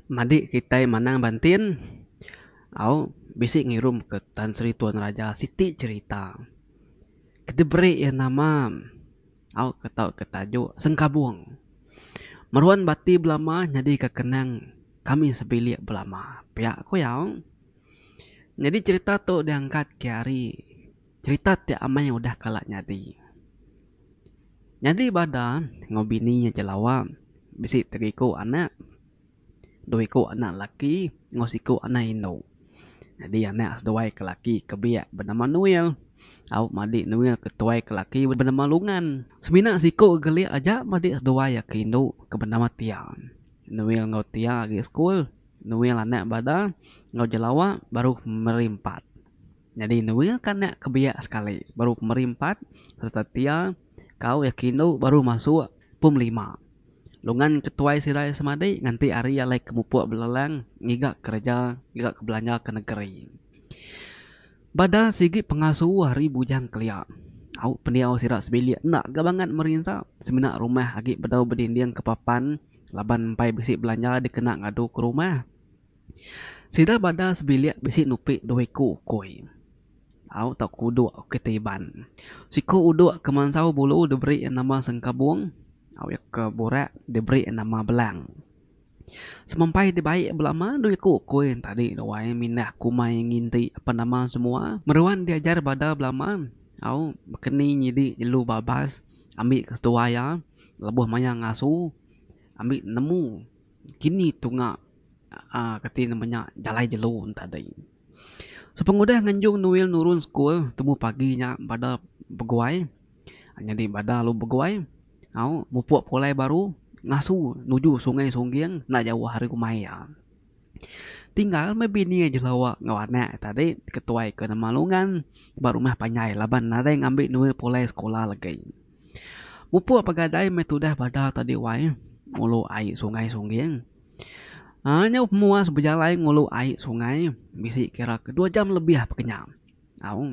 Madik kitai manang bantin au bisi ngirum ke Tan Sri Tuan Raja siti cerita ke diberi iya nama au ke tau ke tajuk Sengkabung. Meruan bati belama nyadi ke kenang kami sebilik belama pia ku iya. Nyadi cerita tu diangkat kiari. Cerita ti amai udah kala nyadi. Nyadi bada enggau bini nya je lawa bisi tiga iku anak. Dua iku anak laki enggau siku anak indu. Nyadi anak seduai ke laki ke biak benama Nuil. Au madi Nuil ke tuai ke laki benama Lungan. Semina siku gelik aja madi seduai iya ke indu ke benama Tia. Nuil enggau Tia agi sekul. Nuil anak bada enggau jelawa baruh meri empat. Nyadi Nuil ka nya ke biak sekali baru pemeri empat sereta Tia ka uih ke indu baru masuk pum lima. Lungan ke tuai sirai semadi nganti ari alai ke mupuk belelang ngiga kereja ngiga ke belanja ke negeri. Bada sigi pengasu ari Bujang Kelia, au pendiau sida sebilik enda ga bangat merinsa semina rumah agi bedau bedinding ke papan laban empai bisi belanja dikena ngadu ke rumah. Sida bada sebilik bisi nupi dua iku ukui au tau ke uduk ke ti iban. Siku uduk ke mansau bulu diberi iya nama sengkabung au iya ke burak diberi iya nama belang. Semampai dibai belama dua iku ukui yen tadi ruai mindah kumai nginti apan nama semua. Meruan diajar bada belama au baka ni nyidi nyelu babas ambi ke seduai iya lebuh maya ngasu ambi nemu. Kini tunga aaa kati ne menya jalai jelu enta dei. Sepengudah nganjung Noel nurun sekul temu pagi nya bada beguai nyadi bada lalu beguai au mupuk pulai baru ngasu nuju Sungai Sungging enda jauh ari rumah iya. Tinggal meh bini iya jelu enggau anak iya tadi ketuai ke nama Lungan ba rumah panjai laban nadai ngambi Noel pulai sekula legi. Mupuk pegadai meh tudah bada tadi wai ngulu ai sungai sungging. Aaa nyau muas bejalai ngulu ai sungai bisi kira ke dua jam lebih peka nya. Au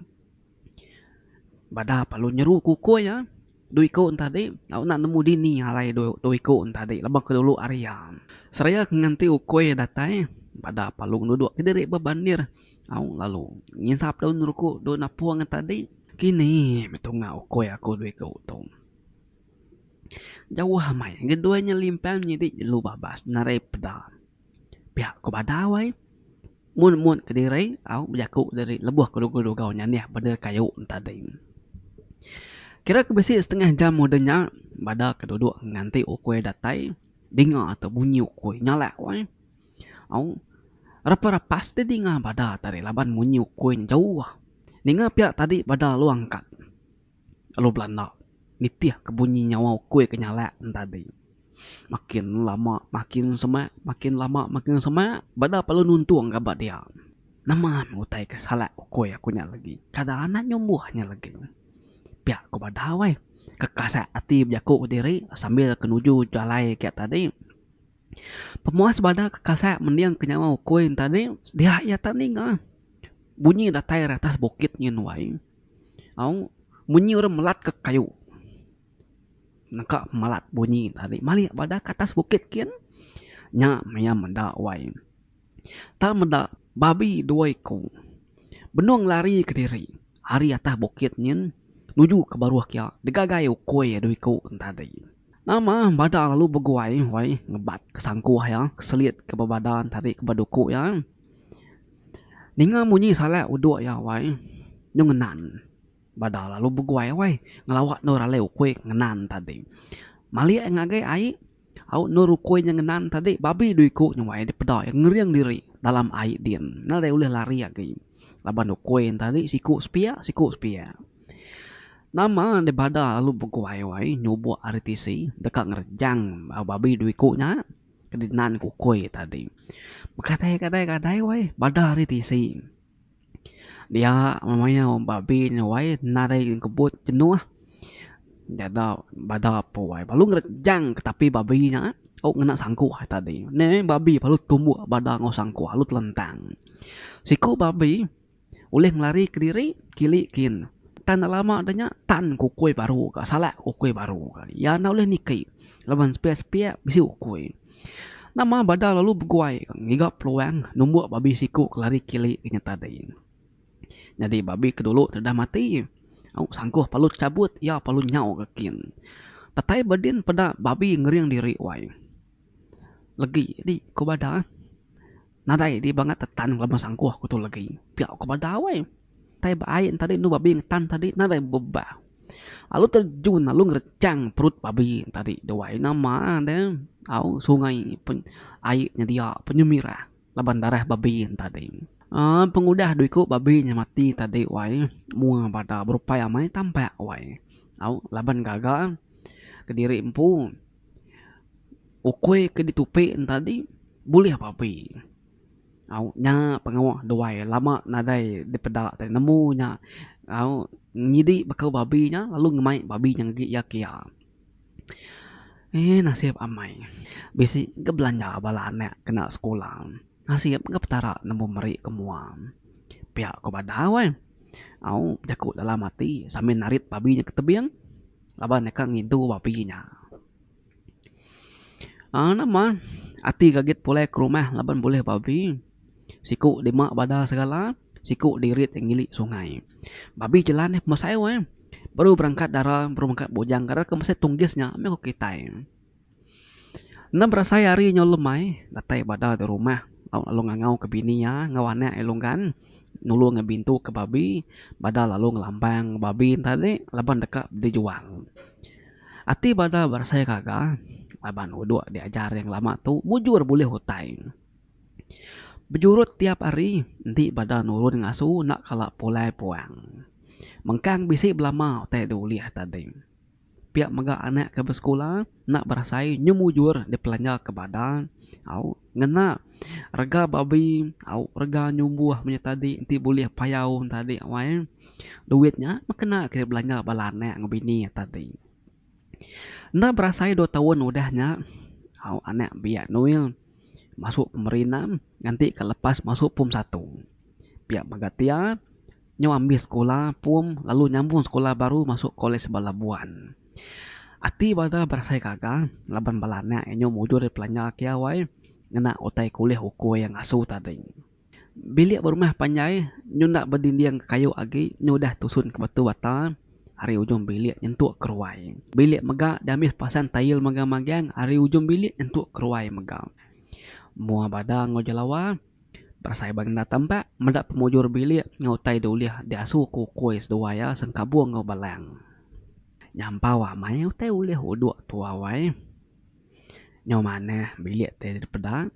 bada pa lu nyeru kukui iya dua iku enta tadi au enda nemu dini alai dua iku enta tadi laban aku dulu ari iya. Seraya ke nganti ukui datai bada pa lu ngeduduk kediri ba bandir. Aung lalu nginsap daun ruku dua napung ngan tadi. Kini meh tunga ukoi aku due ke utung. Jauh amai ngeduai nya limpang nyidi jelu babas narai peda. Pia ku badau ai. Mun mun kediri aung bejaku diri lebuh ke lugu dugau nya neh bendar kayu tadi. Kira ke bisi setengah jam udah nya bada ke duduk nganti ukoi datai dinga tu bunyi ukoi nya alak wai. Au. Rapa rapas ti dinga bada tadi laban munyi ukui nya jauh. Ninga pia tadi bada alu angkat alu belanda nitih ke bunyi nyawa ukui ke nyalak ne tadi. Makin lama makin semak makin lama makin semak bada pa lu nuntung ga ba dia. Nama meh utai ke salak ukui aku nya lagi. Kada anang nyumbuh nya lagi. Pia ku bada weh. Kekasak ati jaku diri sambil kenuju jalai ke tadi. Pemuas bada ke kasai mendingka nyawa ukui enta ni dia iya tan ninga bunyi datai ari atas bukit ngin wai au munyi orang melat ka kayu neka melat bunyi tadi malik bada ka atas bukit kin nya maya meda wai. Tang meda babi dua iku benung lari kediri ari atas bukit nyin nuju ke baruh kiya digagai ukui iya dua iku nya tadi. Nama bada lalu beguai wai ngebat ke sangkuh iya ke selit ke ba badan tadi ke ba duku iya. Ninga munyi salak uduk iya wai nyu ngenan bada lalu beguai wai ngelawa endur alai ukui ke ngenan tadi. Malik iya ngagai ai. Au endur ukui nya ngenan tadi babi dua iku nya wai dipeda iya ngering diri dalam ai din nang dei ulih lari agi laban ukui tadi siku sepia siku sepia. Nama dei bada lalu beguai wai nyubok ari tisi deka ngerejang au babi dua iku nya ke dinan ku ukui tadi. Begadai gadai gadai wai bada ari tisi. Dia memayau babi nya wai nadai kebut jenuh jaga bada pun wai lalu ngerejang ke tapi babi nya tau ngena sangkuh tadi neh babi lalu tumbuk bada enggau sangkuh lalu telentang. Siku babi ulih ngelari kediri kili kin tan enda lama nya nya tan ukui baru ka salak ukui baru ka iya enda ulih niki laban sepiak sepiak bisi ukui. Nama bada lalu beguai ngiga peluang numbuk babi siku ke lari kili inya tadi. Nyadi babi ke dulu deda mati au sangkuh palut cabut iya palut nyau ka kin. Datai ba din peda babi ngering diri wai legi di ku bada. Nadai di bangat te tan ngelama sangkuh ku tu legi. Pia ku badau ai. Tai ba ai enta di enu babi ngan tan tadi nadai bebah. Lalu terjun lalu ngerechang perut babi tadi duai nama de au sungai pe ai nyedia penyemirah laban darah babi tadi. Aaa pengudah due ku babi nya mati tadi wai mua bada berupai amai tampak wai. Au laban gaga kediri empu. Ukui ke ditupi entadi bulih papi. Au nya pengawa duai lama nadai dipeda tadi nemu nya au nyidi baka babi nya lalu ngemai babi nya ngagi iya kia. Ehh nasib amai bisi ke belanja bala anak kena sekula nasib ke petara nemu meri ke mua. Pia ku badau ai au bejaku dalam ati sambil narit babi nya ke tebing laban deka ngidu babi nya. Aaa nama ati gagit pulai ke rumah laban bulih babi siku dima bada segala siku dirit ngili sungai. Babi jelan nya pemasayu eh baru berangkat dara baru mengka bujang kada ke mesti tunggis nya meh ku kitai. Enda berasai ari inya ulih mai datai bada di rumah tau lalu ngangau ke bini iya enggau anak iya lunggan nulung iya bintu ke babi bada lalu ngelambang babi enta ni laban deka dijual. Ati banar berasai gaga laban uduk diajar iya ngelama tu mujur bulih utai. Bejurut tiap hari enti beda nurun ngasu enda kala pulai puang. Mengkang bisi belama utai dua ulih tadi. Pia mega anak ke besekula enda berasai nyemujur dipelanja ke bada au Ngena rega babi au rega nyumbuh menya tadi enti bulih payau tadi wai duit nya meh kena kitai belanja bala anak enggau bini tadi. Enda berasai dua taun udah nya au anak biak Nuil masuk pemeri enam nganti ka lepas masuk pum satu. Pia mega tia. Nyau ambis sekula pom lalu nyambung sekula baru masuk Kolej ba Labuan. Ati bada berasai gaga laban bala anak inyu mujur ari Pelanjar kiau ai ngena utai kulih uku iya ngasu tadi. Bilik berumah panjai nyu enda bedinding kayu agi nyu udah tusun ke batu bata ari ujung bilik nyentuk ke ruai bilik mega diambis pasang tail megang-megang ari ujung bilik nyentuk ke ruai mega. Mua bada enggau jelawa. Berasai ba ngendar tambak, meda pemujur bilik enggau utai da ulih diasu ku ukui seduai iya Sengkabung enggau Balang. Nyampau amai utai ulih uduk tu awai. Nyau manah bilik ti dipeda.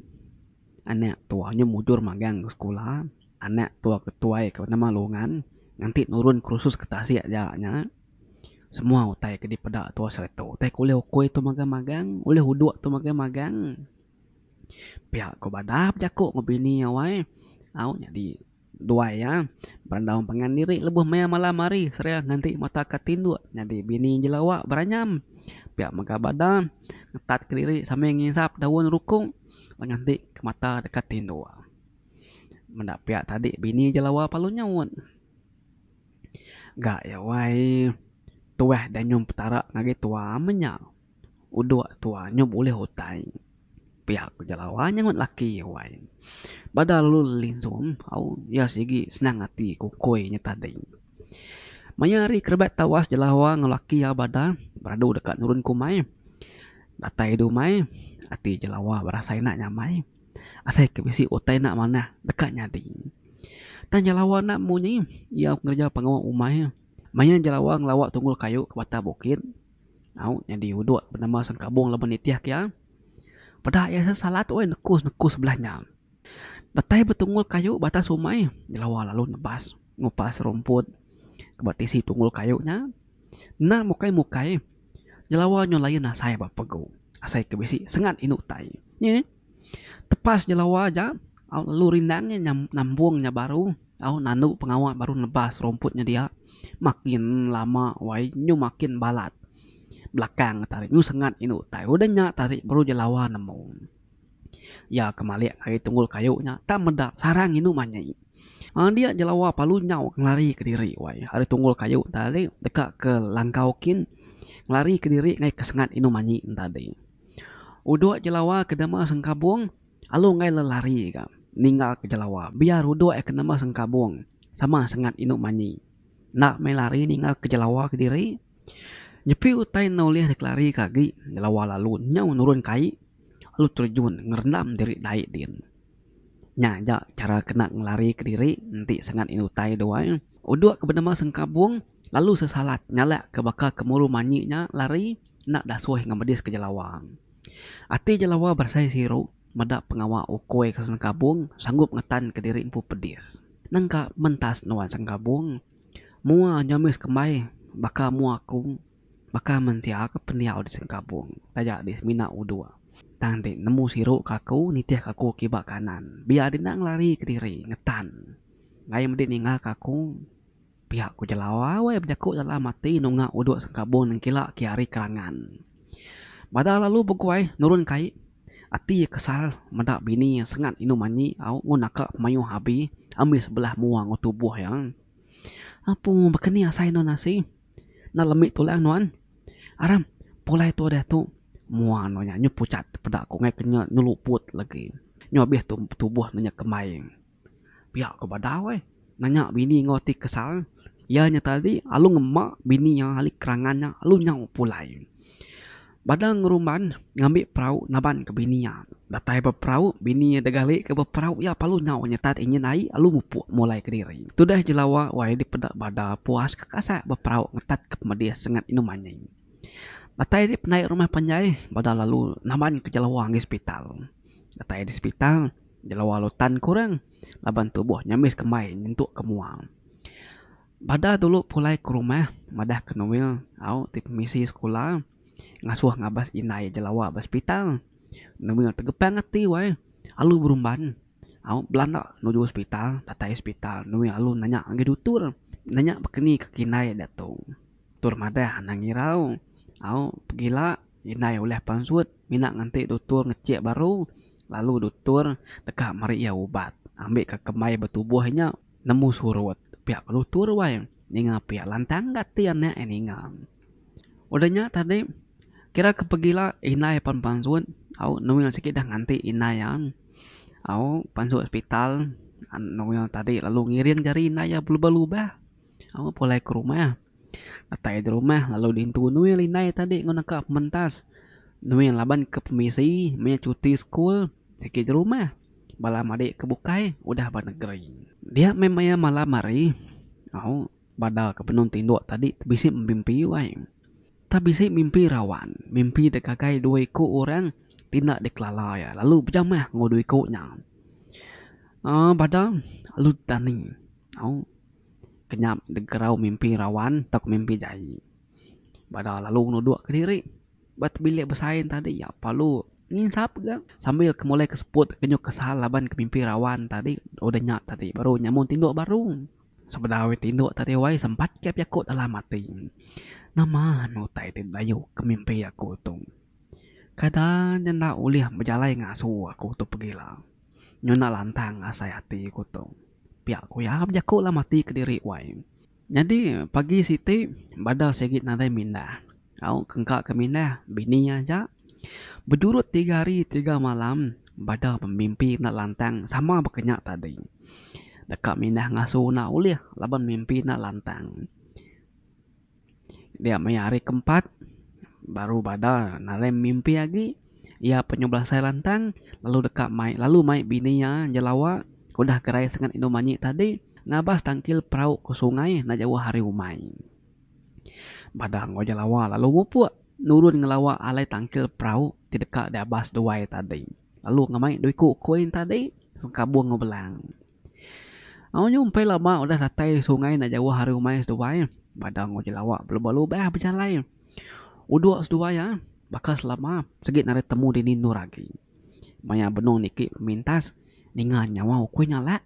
Anak tu anyu mujur magang ke sekula. Anak tu ke tuai ke nama Lungan nganti nurun kerusus ke tasik ja nya. Semua utai ke dipeda tu sereta utai ke ulih ukui tu magang-magang, ulih uduk tu magang-magang. Pia ko badah bejaku enggau bini iya wai au nyadi duai iya berandau pangan diri lebuh maya malam hari seria nganti mata ka tinduk nyadi bini jelawa beranyam pia mega badah ngetat ke diri sambil ngisap daun rukong lalu nganti ke mata deka tinduk. Meda pia tadi bini jelawa perlu nyaut ga iya wai tuah danyum petara ngagai tua menya. Udok tua nyau bulih utai. Pia ku Jelawa nyaugut laki iya wai. Bada lalu Linzom au iya sigi senang ati ku Koi nya tadi. Maya hari ke rebak tawas Jelawa enggau laki iya bada beradu deka nurun ke umai. Datai di umai ati Jelawa berasai enda nyamai asai ke bisi utai enda manah deka nyadi. Tang Jelawa enda munyi iya ngereja pengawa umai. Maya Jelawa ngelawa tunggul kayu ke batang bukit. Au nyadi uduk benama Sang Kabung laban nitihka iya. Peda iya sesalat weh nekus-nekus sebelah nya. Datai betungul kayu ba atas umai nyelawa lalu nebas ngupas rumput ke ba tisi tungul kayu nya. Enda mukai-mukai nyelawa nyau lain asai ba pegu. Asai ke bisi sengat indu utai. Nye. Tepas jelawa aja, au lalu rindang iya nambung nya baru. Au nandu pengawa baru nebas rumput nya dia. Makin lama wai nyu makin balat belakang nya tarik nyu sengat indu tai. Udah nya tarik baru jelawa nemu. Iya ke malik ari tunggul kayu nya tak meda sarang indu manyi. Aaa dia jelawa palu nyau ngelari kediri wai ari tunggul kayu tadi deka ke langkau kin ngelari kediri ngaih ke sengat indu manyi tadi. Udok jelawa ke nama Sengkabong alu enggai le lari ga ninggal ke jelawa biar udok iya ke nama Sengkabong sama sengat inu manyi enda meh lari ninggal ke jelawa kediri nyepi utai enda ulih dek lari ke agi jelawa lalu nyau nurun kai lalu terjun ngerendam diri dai din. Nya aja chara ke nak ngelari kediri enti sengat inu utai dua iya. Udok ke benama Sengkabong lalu sesalat ngalak ke baka kemuru manyi nya lari. enda dasoi enggau medis ke Jelawang. Ati Jelawa berasai siru meda pengawa ukoi ke Sengkabung sanggup ngetanka diri empu pedis. Nangka mentas nuan Sengkabung, mua nyomis kembai baka mua aku baka mensia ke pendiau di Sengkabung taja di semina uduk tang ti nemu siru ke aku nitihka aku kiba kanan biar dina ngelarika diri ngetan. Ngaie medi ninga ke aku. Pia ku Jelau awai bejaku Lala mati nunga uduk sengkabung nengkila ke ari kerangan. Bada lalu beguai nurun kai, ati iya kesal meda bini iya sengat indu manyi au ngun naka mayuh abi ambi sebelah mua enggau tubuh iya. Apu baka ni asai nuan asi? Enda lemi tulang nuan? Aram, pulai tua diatu. Mua nuan nya nyu pucat peda ku enggai ke nya nyu luput lagi. Nyu abih tu tubuh nuan nya kembai. Pia ko badau ai nanya bini enggau ti kesal iya nya tadi alu ngema bini iya ahli kerangan nya alu nyau pulai. Bada ngerumban ngambi perau naban ke bini iya. Datai ba perau bini iya deka gali ke ba perau iya pa alu nyau nyetat enjin ai alu mupuk mulai kediri. Tudah je lawa wai dipeda bada puas ke kasai ba perau ngetat ke pemedih sengat indu manyi. Datai ri pendai rumah panjai bada lalu naban ke jelawa ngi sepital. Datai di sepital. Jelawa lutan kurang laban tubuh nyambis kembai nyentuk ke mua. Bada dulu pulai ke rumah madah ke Noel au ti pemisi sekula ngasuh ngabas indai jelawa ba sepital. Noel tegepang ati wai alu berumban au belanda nuju sepital datai sepital Noel alu nanya ngagai dutur nanya baka ni kaki indai da tu. Dutur madah anang irau au pegila. Indai ulih pansut mina nganti dutur ngechik baru lalu dutur deka meri iya ubat ambika kembai betubuh inya nemu surut pia ke dutur wai ninga pia lantang ga ti anak iya ninga. Udah nya tadi kira ke pegila indai pan pansut au nuil sik dah nganti indai iya au pansut hospital nuil tadi lalu ngiring jari indai iya belubah lubah. Awa pulai ke rumah. Datai di rumah lalu diintu Nuil indai tadi enggau neka pementas. Nuil laban ke pemisi meh cuti sekul sigi di rumah. Bala madi ke bukai udah ba negeri. Dia meh maya malam hari. Au, bada ke benung tinduk tadi ti bisi bemimpi wai. Tang bisi mimpi rawan. Mimpi dek ngagai dua iku orang ti enda dikelala iya lalu bejamah enggau dua iku nya. Aaa bada alu ti tani. Au. kenyap degerau mimpi rawan tauka mimpi jai. Bada lalu nuduk kediri ba tebilik besain tadi iya perlu nginsap ga sambil ke molai ke seput kenyau kesal laban ke mimpi rawan tadi udah nya tadi baru nya mun tinduk baru sebedau ari tinduk tadi wai sempat ke jaku dalam ati nama anu utai ti dayuh ke mimpi aku tu kada nya enda ulih bejalai ngasu aku tu pegila nyau enda lantang asai ati ku tu. Pia ku iya, bejaku lah mati kediri wai. Nyadi pagi siti bada sigi nadai mindah. Au ke engka ke mindah bini iya aja. Bejurut tiga hari tiga malam bada bemimpi enda lantang sama baka nya tadi. Deka mindah ngasu enda ulih laban mimpi enda lantang. Dia maya hari keempat, baru bada Narem mimpi agi. Iya penyuh belasai lantang lalu deka mai lalu mai bini iya Jelawa ke udah gerai sengat indu manyi tadi ngabas tangkil perau ke sungai enda jauh ari umai. Bada enggau Jelawa lalu mupuk nurun ngelawa alai tangkil perau ti deka diabas duai tadi lalu ngemai dua iku koi tadi sengkabung enggau belang. Au nyumpil lama udah datai sungai enda jauh ari rumah seduai bada enggau jelawa belabuh lubah bejalai udok seduai iya baka selama sigi narit temu dini endur agi maya benung niki pemintas ninga nyawa ukui ngalak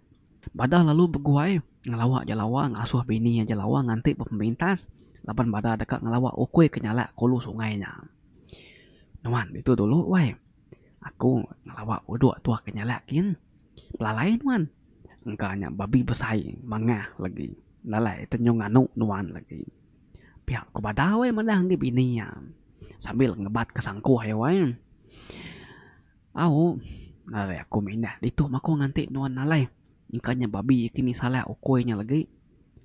bada lalu beguai ngelawa jelawa ngasuh bini iya jelawa nganti ba pemintas laban bada deka ngelawa ukui ke nyalak ke ulu sungai nya nuan ditu dulu wai. Aku ngelawa uduk tuah ke nyalak gin. Pelalai nuan. Engka nya babi besai mangah legi nalai tenyung anu nuan legi. Pia ku bada weh madah agi bini iya sambil ngebat ke sangkuh iya weh. Au ari aku mindah ditu mako nganti nuan nalai engka nya babi kini salak ukoi nya legi.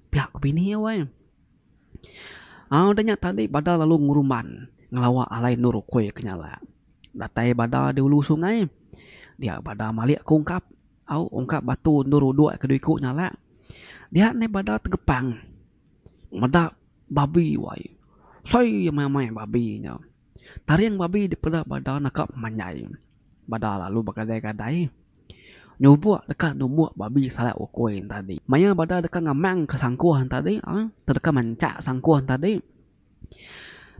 Pia ku bini iya weh. Au da nya tadi bada lalu ngerumban ngelawa alai endur ukoi ke nyalak. Datai bada di ulu sungai. Dia bada malik aku ungkap au ungkap batu endur uduk ke dui ku nyalak. Dia neh bada tegepang meda babi wai. Soi amai amai babi nya. Taring babi dipeda bada naka pemanjai. Bada lalu begadai gadai nyubuk deka numbuk babi salak ukoi ne tadi. Maya bada deka ngamang ke sangkuh ne tadi tedeka mancak sangkuh ne tadi.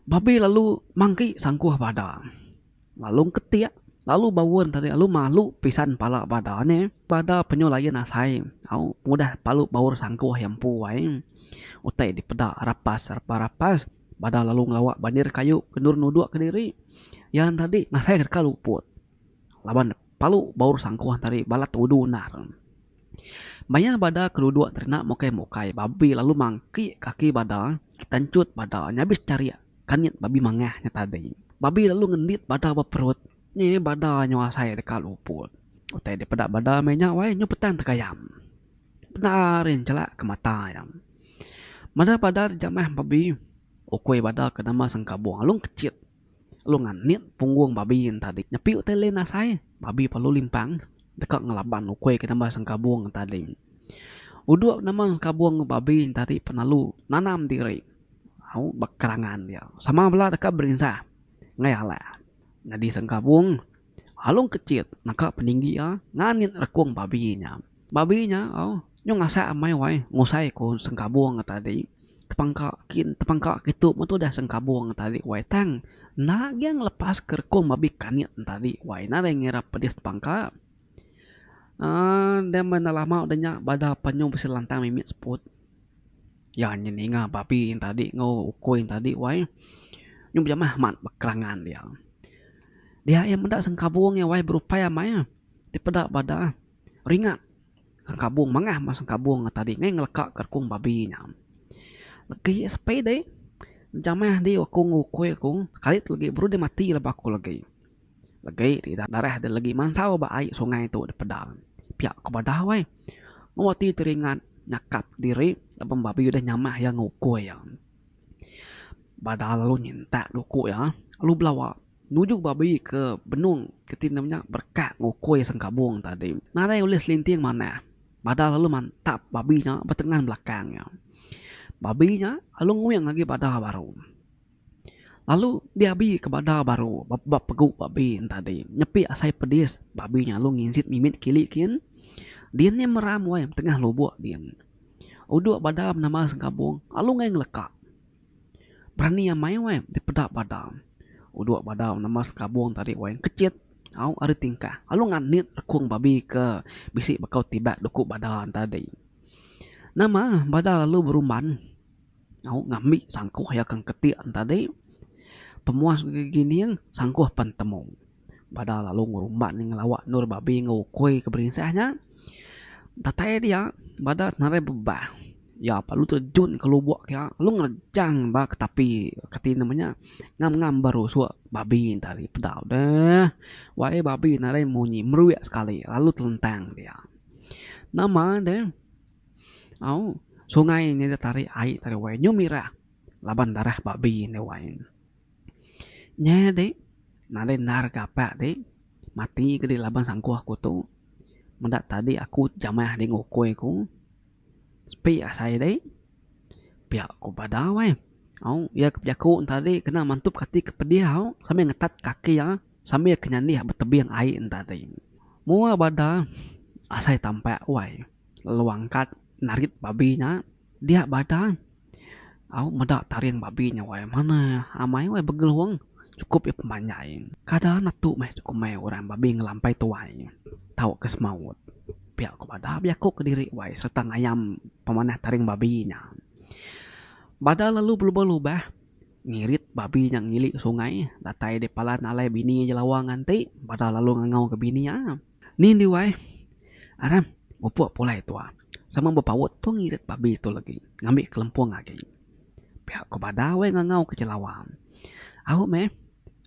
Babe lalu mangki sangkuh bada lalu engketik lalu baun tadi lalu malu pisan pala bada ne bada penyau layan asai au mudah palu baur sangkuh iya empu ai utai dipeda rapas rapas rapas bada lalu ngelawa bandir kayu ke endur nudok kediri iya tadi ngasai deka luput. Laban palu baur sangkuh tari balat tudu endar. Maya bada ke duduk teri enda mukai mukai babi lalu mangki kaki bada tanchut bada nyabis charik kanyit babi mangah nya tadi. Babi lalu ngendit bada ba perut nya iya bada nyu asai deka luput. Utai dep peda bada meh nya wai nyu petan tegayam. Peda ari chelak ke mata iya. Meda bada jamah babi ukui bada ke nama sengkabung alung kechit. Lalu nganit punggung babi yen tadi. Nyepiu tai lin asai, babi perlu limpang deka ngelaban ukui ke nambah sengkabung yen tadi. Uduk nambah sengkabung babi yen tadi penalu nanam diri au ba kerangan dia. Sama bala deka berinsah enggei alak nyadi sengkabung alung kecit naka peninggi iya nganit rekung babi nya. Babi nya au. Nyu ngasai amai wai ngusai ku sengkabung ke tadi tepangka tepangka kitu meh tudah sengkabung ke tadi wai tang enda agi ngelepas ke rekung babi kanit ne tadi wai ina deh ngira pedis tepangka uhh deh meh enda lama deh nya bada penyuh bisi lantang mimi seput iya nyen ninga babi nyen tadi enggau ukoi nyen tadi wai nyu bejamah amat kerangan dia dia iya meda sengkabung iya wai berupai amai ti peda bada. Ringat Sengkabung mangah meh Sengkabung ngata dih ngai ngeleka ka rekung babi nya. Legi sepi dih jamah di aku ngukui aku kalit legi baru deh mati laban aku legi. Legi ti darah deh legi mansau ba ai sungai tu deh pedang. Pia ku badau ai. Mung ati ti ringat nyakap diri laban babi udah nyamah iya ngukui iya. Badau lalu nyintak duku iya lalu belawa. Nuju babi ke benung ke ti nemu nya berkat ngukui sengkabung tadi. Nadai ulih selinting manah badah lalu mantap babi nya betengan belakang iya. Babi nya lalu nguing agi badah baru. Lalu diabi ke badah baru ba pegu babi nya tadi. Nyepi asai pedis babi nya lalu nginjit mimit kili kin. Din nya meram wai betengah lubuk din. Uduk badah nama sengkabung lalu ngeleka. Berani amai wai ti peda bada. Udok bada nama sekabung tadi wai kecit au ari tingkah lalu nganit rekung babi ke bisi bekau tibak doku bada tadi. Nama bada lalu berumban au ngambi sangkuh iya ke keti tadi pemuas gegining sangkuh pen temu. Pada lalu ngerumbat nya ngelawa endur babi enggau ukoi ke berinsah nya. Datai dia badat narai bebah. Iya lalu terjun ke lubok iya lalu ngerejang ba ke tapi ke ti nama nya ngam ngam ba rusok babi nya tadi peda deh. Wai eh babi narai munyi meruik sekali lalu telentang dia. Nama deh au sungai nya ditarik ai tadi wai nyu mirah laban darah babi nya wai. Nya iya deh nadai endar ke apa deh mati ke deh laban sangkuh aku tu meda tadi aku jamah deh ngukui aku sepi asai deh piak ku badau eh au iya ke bejaku enta deh kena mantup ati ke pedih au sambil ngetat kaki iya sambil ke nyandih betebing ai enta deh moa bada asai tampa wai lalu angkat narit babi nya. Dia badan au meda taring babi nya wai manah amai wai begelung chukup iya pemanjai kada netu meh komai orang babi ngelampai tuai tau ke semaut pia ku bada bejaku kediri wai serta ngayam pemanah taring babi nya. Bada lalu belubah-lubah ngirit babi nya ngili sungai datai dep palan alai bini jelawa nganti bada lalu ngangau ke bini iya. Ni endiu ai. Aram, mupuk pulai tua. Sama bepaut tu ngirit babi tu legi ngambi kelempung agi. Pia ku bada weh ngangau ke jelawa. Au meh.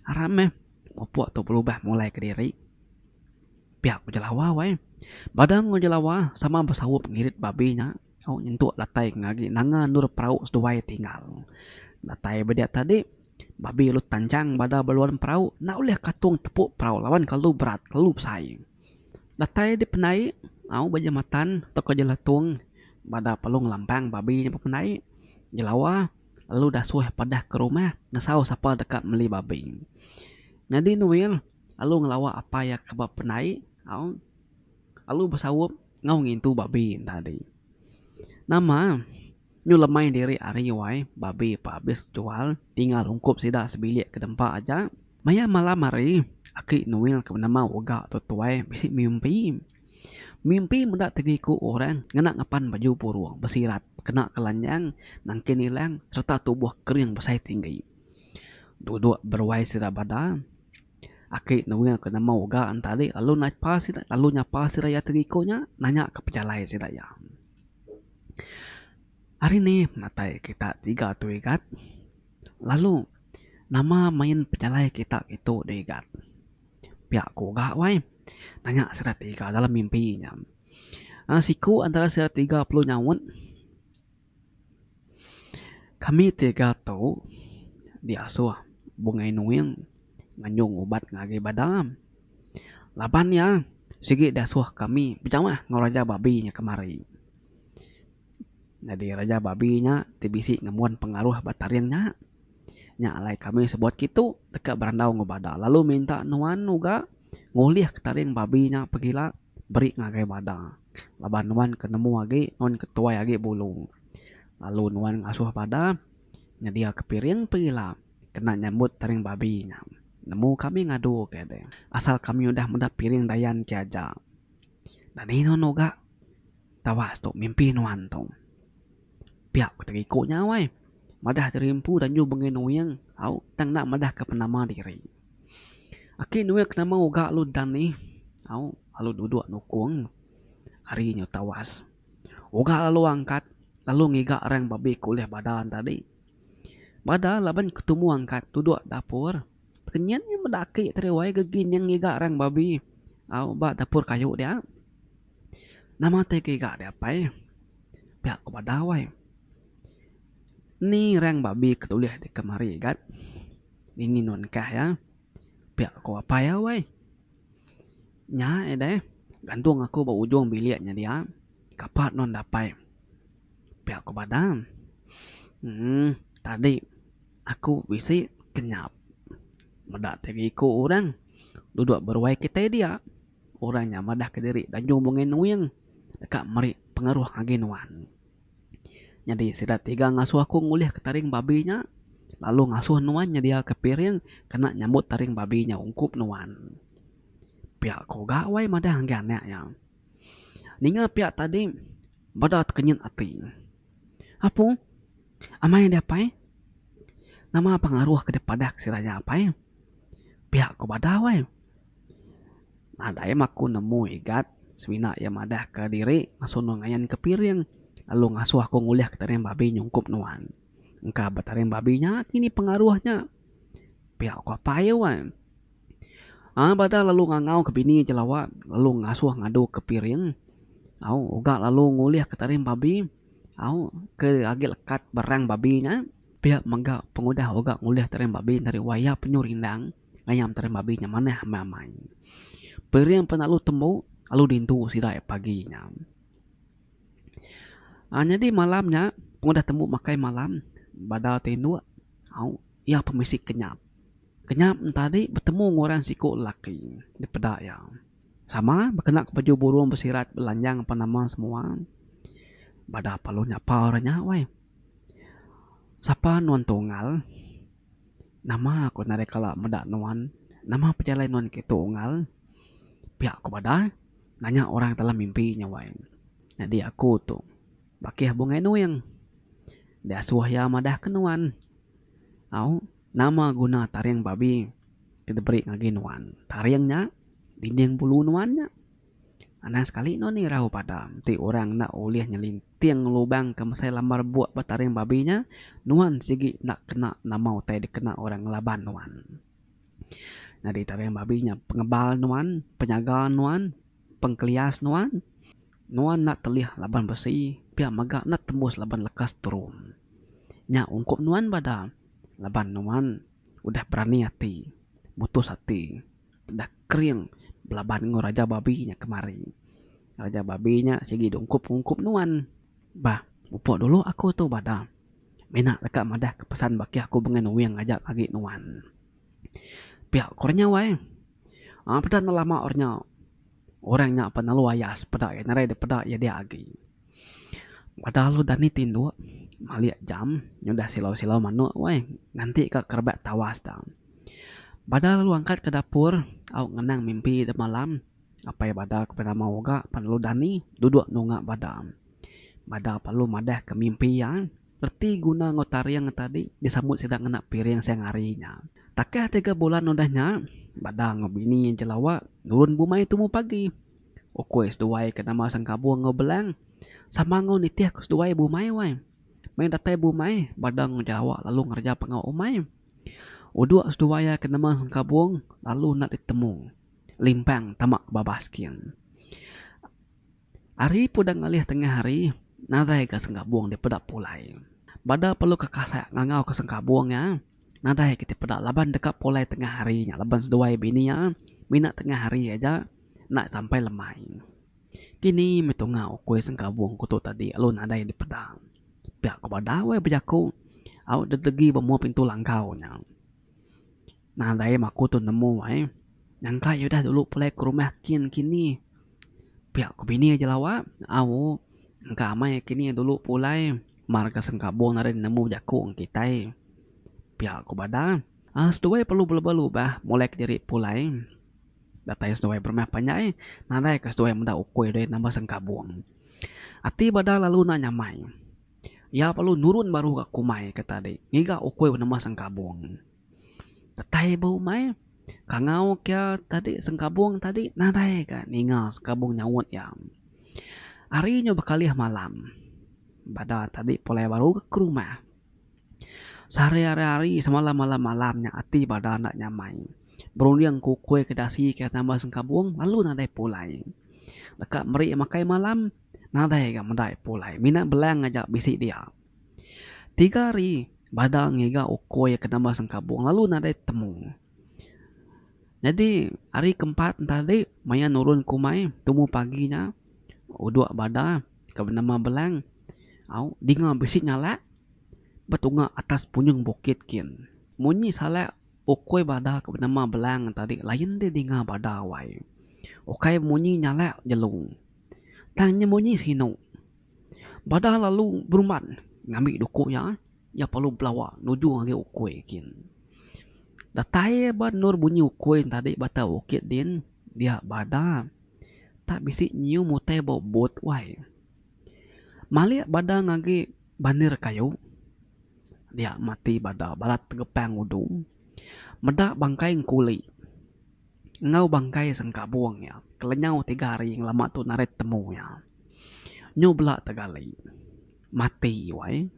Aram meh. Mupuk tu berubah mulai kediri. Pia ku jelawa weh. Bada enggau jelawa sama besaup ngirit babi nya. Au nyentuk datai ngagi nanga endur perau seduai tinggal. Datai ba diak tadi, Babi lalu tanjang bada ba luan perau enda ulih katung tepuk perau laban kelalu berat, kelalu besai. Datai dipendai, au ba jematan tauka jelatung bada pelong lambang Babi nya bependai, jelawa lalu dasuh padah ke rumah ngesau sapa deka meli Babi. Nyadi Noel lalu ngelawa apai iya ke ba pendai, au lalu besaup Enggau ngintu babi tadi. Nama nyu lemai diri ari wai babi pa abis jual tinggal ungkup sida sebilik ke dempa aja. Maya malam hari aki Noel ke benama Uga tu tuai bisi mimpi. Mimpi meda tegiku orang ngena ngepan baju burung besirat kena kelanjang nangkin ilang serta tubuh kering besai tinggi. Duduk beruai sida bada Aki Noel ke nama Oga entadi lalu naipa sida lalu nyapa sida iya ti ngiku nya nanya ka pejalai sida iya. Ari ni penatai kita tiga tu Igat lalu nama main pejalai kita ngitu dah Igat. Pia ku Oga wai nanya sida tiga dalam mimpi nya. Siku antara sida tiga perlu nyaut. Kami tiga tu diasuh Bungai Nuing nganjung ubat ngagai badan. Laban iya sigi diasuh kami bejamah enggau Raja Babi nya kemari. Nyadi Raja Babi nya ti bisi ngembuan pengaruh ba Taring nya. Nya alai kami sebut kitu deka berandau enggau bada lalu minta nuan uga ngulih Taring Babi nya pegila beri ngagai bada. laban nuan ke nemu agi nuan ke tuai agi bulu lalu nuan ngasuh bada nyediaka piring perila kena nyambut taring babi nya nemu kami ngadu ke deh asal kami udah meda piring dayan ke aja dadi nuan uga tawas tu mimpi nuan tu pia ku tega iku nya weh madah diri empu danju bengih nuing au tang enda madahka penama diri. Aki Noel ke nama uga lalu Dan nih au lalu duduk nukung ari nyu tawas. Uga lalu angkat lalu ngiga orang babik ke ulih bada ne tadi. Bada laban ke tumu angkat duduk dapur kenyin nya meda aki tadi wai gegi nya ngiga orang babi au ba dapur kayu dia. Nama ti ke iga dia pai pia ku bada wai. Ni rang babi ke tulih deka mari gat dini nuan kah ya pia ko apai au ai. Nya ai deh gantung aku ba ujung bilik nya dia kapa nuan dapai pia ko badam. Emm tadi aku bisi kenyap meda tiga iko orang dudok beruai kitai dia orang nya madah kediri danyung bungai nuing deka meri pengaruh agi nuan. Nyadi sida tiga ngasuh aku ngulihka taring babi nya lalu ngasuh nuan nyediaka piring kena nyambut taring babi nya ungkup nuan. Pia ku ga wai madah ngagai anak iya. Ninga pia tadi beda tekenyit ati. Apu amai deh pai nama pengaruh ke deh padah ke sida nya pai pia ku bada wai. Nadai mah aku nemu igat semina iya madahka diri ngasuh nuan ngayanka piring lalu ngasuh aku ngulihka taring babi nyungkup nuan. Engka ba taring babi nya agi nih pengaruh nya. Pia ku apai weh. Ai bada lalu ngangau ke bini je lawa lalu ngasuh ngaduka piring au uga lalu ngulihka taring babi au ke agi lekat ba rang babi nya. Pia mega pengudah uga ngulih taring babi nya ari wayah penyu rindang. ngayam terem babi nya manah meh amai. Piring pan lalu tembu lalu dintu sida iya pagi nya. Aaa nyadi malam nya pengudah tembu makai malam bada ti indu au iya pun bisi kenyap. Kenyap ne tadi betemu ngan orang siku lelaki nda peda iya. Sama bekena ke baju burung besirat belanjang pan nama semua. Bada pa lu nyapa orang nya weh. Sapa nuan Tungal? Nama aku nadai kala meda nuan? Nama pejalai nuan ke tu Unggal? Pia ku Bada nanya orang dalam mimpi nya wai. Nyadi aku tu Bakih Bungai Nuing. Diasuh iya madah ke nuan. Au, nama guna taring babi ke diberi ngagai nuan? Taring nya dinding bulu nuan nya. Anang sekali nuan irau Bada enti orang enda ulih nyelintik. Ting ngelubang ke mesai lambar buk ba taring babi nya, nuan sigi enda kena nama utai dikena orang ngelaban nuan. Nyadi taring babi nya pengebal nuan, penyaga nuan, pengkelias nuan. Nuan enda telih laban besi, pia mega enda tembus laban lekas turun. Nya ungkup nuan bada laban nuan udah berani ati, mutus ati. Peda kering belaban enggau Raja Babi nya kemari. Raja Babi nya sigi diungkup-ungkup nuan. Bah, mupuk dulu aku tu bada. Mina deka madahka pesan baki aku bengai nuing aja agi nuan. Pia ku orang nya wai. Aaa peda enda lama orang nya orang nya pan lalu ayas peda iya nadai dipeda iya dia agi. Bada lalu dani tinduk malik jam nyudah silau-silau manuk wai nganti ka kerebak tawas da. Bada lalu angkat ke dapur au ngenang mimpi de malam apai bada ke penama oga pan lalu dani dudok nunga bada. Bada pan lalu madah ke mimpi iya reti guna enggau taring ke tadi disambut sida ngena piring siang hari nya. Takah tiga bulan udah nya bada enggau bini iya jelawa nurun bumai tumu pagi. Ukoi seduai ke nama Sengkabong enggau Belang sama enggau nitih ku seduai bumai wai. Meh datai bumai bada enggau jelawa lalu ngereja pengau umai. Uduk seduai iya ke neman sengkabung lalu enda ditemu limpang tama ke babas king. Ari pun udah ngalih tengah hari nadai ga sengkabung dipeda pulai. Bada perlu ke kasah ngangau ke sengkabung iya nadai ke ti peda laban deka pulai tengah hari nya laban seduai bini iya mina tengah hari aja enda sampai lemai. Kini meh tunga ukui sengkabung ku tu tadi lalu nadai dipeda. Pia ku bada weh bejaku au ditegi ba mua pintu langkau nya. Nadai mah aku tu nemu ai. Nyangka iya udah dulu pulai ke rumah kin kini. Pia ku bini aja lawa. Au engka amai kini dulu pulai mar ke sengkabung nadai nemu bejaku ngan kitai. Pia ku bada. Aaa seduai perlu beleba lubah mulai ke diri pulai. Datai seduai berumah panjai nadai ke seduai meda ukui diri nambah sengkabung. Ati Badar lalu enda nyamai. Iya lalu nurun baru ka kumai ke tadi ngiga ukui penemu sengkabung. Datai ba umai, kangau ke tadi sengkabung tadi nadai ka ninga sengkabung nyaut iya. Ari nyu bekalih malam, Badar tadi pulai baru ka rumah. Sehari-hari hari semalam malam malam nya ati badan enda nyamai. Berunding ke ukoi ke dasi ke tambah sengkabung lalu nadai pulai. Deka meri makai malam nadai ga meda pulai. Mina belang aja bisi dia. Tiga hari bada ngiga ukoi ke nambah sengkabung lalu nadai temu. Nyadi hari keempat enti tadi maya nurun ke umai tumu pagi nya udok bada. Ka benama belang au dinga bisi nyalak betunga atas punyung bukit kin. Munyi salak ukui bada ka benama belang tadi lain deh dinga bada wai. Ukai munyi nyalak jelu tang nya munyi sinu. Bada lalu berumban ngambi duku iya, iya perlu belawa nuju ngagai ukui kin. Datai ba endur bunyi ukui tadi ba atas bukit din dia bada. tak bisi nyiu mutai bau bot wai. Malik bada ngagi banir kayu dia mati bada balat tegepang udu meda bangkai engkuli enggau bangkai sengkabung iya ke lenyau tiga hari ngelama tu narit temu iya. Nyu bela tegali mati wai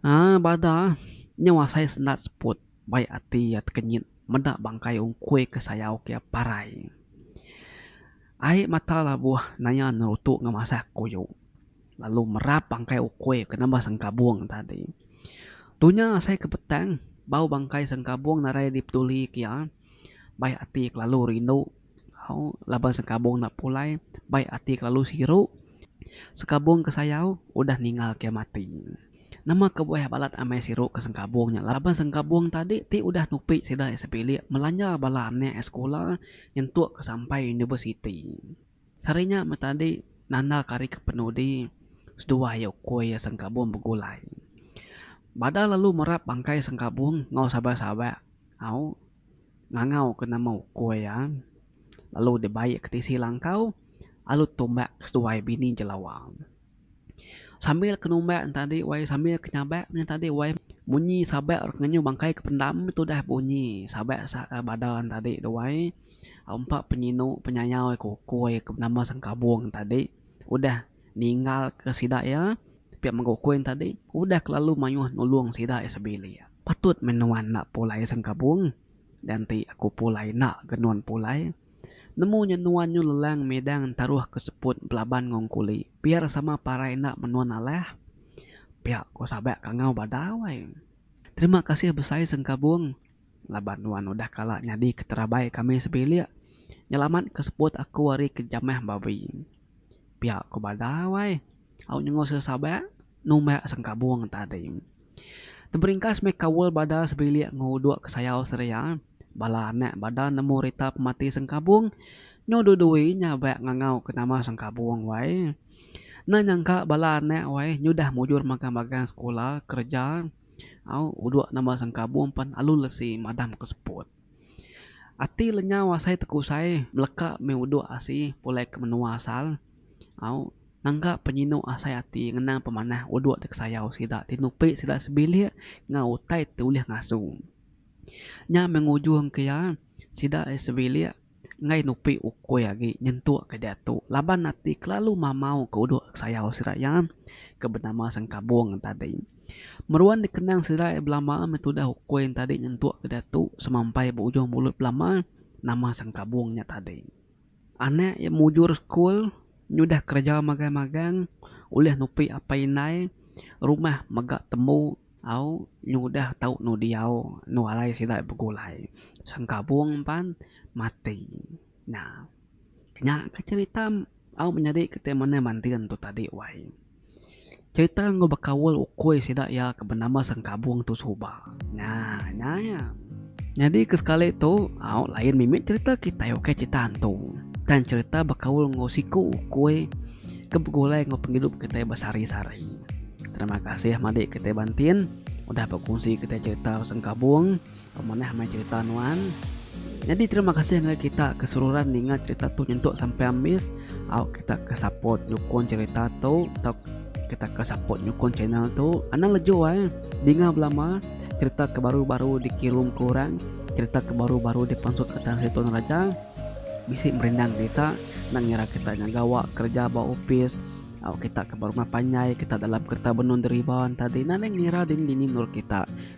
aaa bada nyau asai senda seput. Baik ati iya tekenyit meda bangkai ungkui ke sayau ke parai. Ai mata labuh naya nerutu ngemasah kuyu lalu merap bangkai ukui ke nambah sengkabung tadi. Tu nya asai ke petang bau bangkai sengkabung narai dipeduli ke iya baik ati kelalu rindu. Hau laban sekabung enda pulai bai ati kelalu siru sekabung ke sayau udah ningal ke mati. Nama kebuah balat amai siru ke sengkabung nya laban sengkabung tadi ti udah nupi sida iya sepilik melanja bala anak iya sekula nyentuk ke sampai universiti. Sehari nya meh tadi nanda ke hari ke penudi seduah iya ukui iya sengkabung begulai. Bada lalu merap bangkai sengkabung enggau saban-saban hau ngangau ke nama uko iya lalu dibai ke tisi langkau lalu tumbak ke seduai bini jelawa. Sambil ke numbak ne tadi wai sambil ke nyabak ne tadi wai munyi sabak rak ngenyuh bangkai ke pendam tu dah bunyi sabak bada ne tadi tu wai empa penyinu penyayau ke uko iya ke nama sengkabong ne tadi udah ninggal ke sida iya pia mega uko iya tadi udah kelalu mayuh nulong sida iya sebilik. Patut meh nuan enda pulai sengkabung, dianti aku pulai enda ga nuan pulai. Nemu nya nuan nyu lelang midang taruh ke seput belaban ngong kuli biar sama parai enda men nuan alah. Pia ko Sabak kangau badau ai. Terima kasih besai sengkabung laban nuan udah kala nyadi ke terabai kami sebilik nyelamat ke seput aku ari ke jamah babi. Pia ko badau ai. Au nyengosa Sabak numbak sengkabung tadi. Teberingkas meh kaul bada sebilik enggau uduk ke sayau Seria, bala anak bada nemu rita pemati Sengkabung nyu dudui nya ba ngangau ke nama Sengkabung wai. Enda nyangka bala anak wai nyudah mujur magang-magang sekula, kereja, au uduk nama Sengkabung pan alu lesi madam ke seput. Ati lenyau asai tekusai meleka meh uduk asi pulai ke menua asal au. Nangka penyinu asai ati ngenang pemanah uduk ti kesayau sida ti nupi sida sebilik enggau utai ti ulih ngasu. Nya meh ngujungka iya sida sebilik enggai nupi ukui agi nyentukka diatu laban ati kelalu mamauka uduk kesayau sida iya ke benama Sengkabung tadi. Meruan dikenang sida belama meh tudah ukui enti tadi nyentukka diatu semampai ba ujung mulut belama nama Sengkabung nya tadi. Anak iya mujur sekul nyudah kereja magang-magang ulih nupi apai indai rumah mega tembu au nyudah tau enu diau enu alai sida iya begulai sengkabung pan mati nya. Nya ke cherita au menyadi ke manti anu tadi wai. Cherita enggau bekaul ukui sida iya ke benama Sengkabung tu suba. Nya nya iya. Nyadi ke sekali tu au lain mimit cherita kitai ukai cherita hantu. Tang cherita bekaul enggau siku ukui ke begulai enggau pengidup kitai ba sehari sehari. Terima kasih madi kitai ba entin udah bekunsi kitai cherita Sengkabung. Pemanah mai cerita nuan. Nyadi terima kasih ngagai kita ke seruran ninga cerita tu nyentuk sampai ambis au kita ke support nyukung cerita tu tau kita ke support nyukung channel tu anang leju ai dinga belama cerita ke baru-baru dikirum ke orang cerita ke baru-baru dipansut ke tanah situ raja bisi merindang kita nak ngira kita nya gawa kerja ba opis au kita ke berumah panjai kita dalam kereta benung deriba entah dina ngira dini-dini nur kita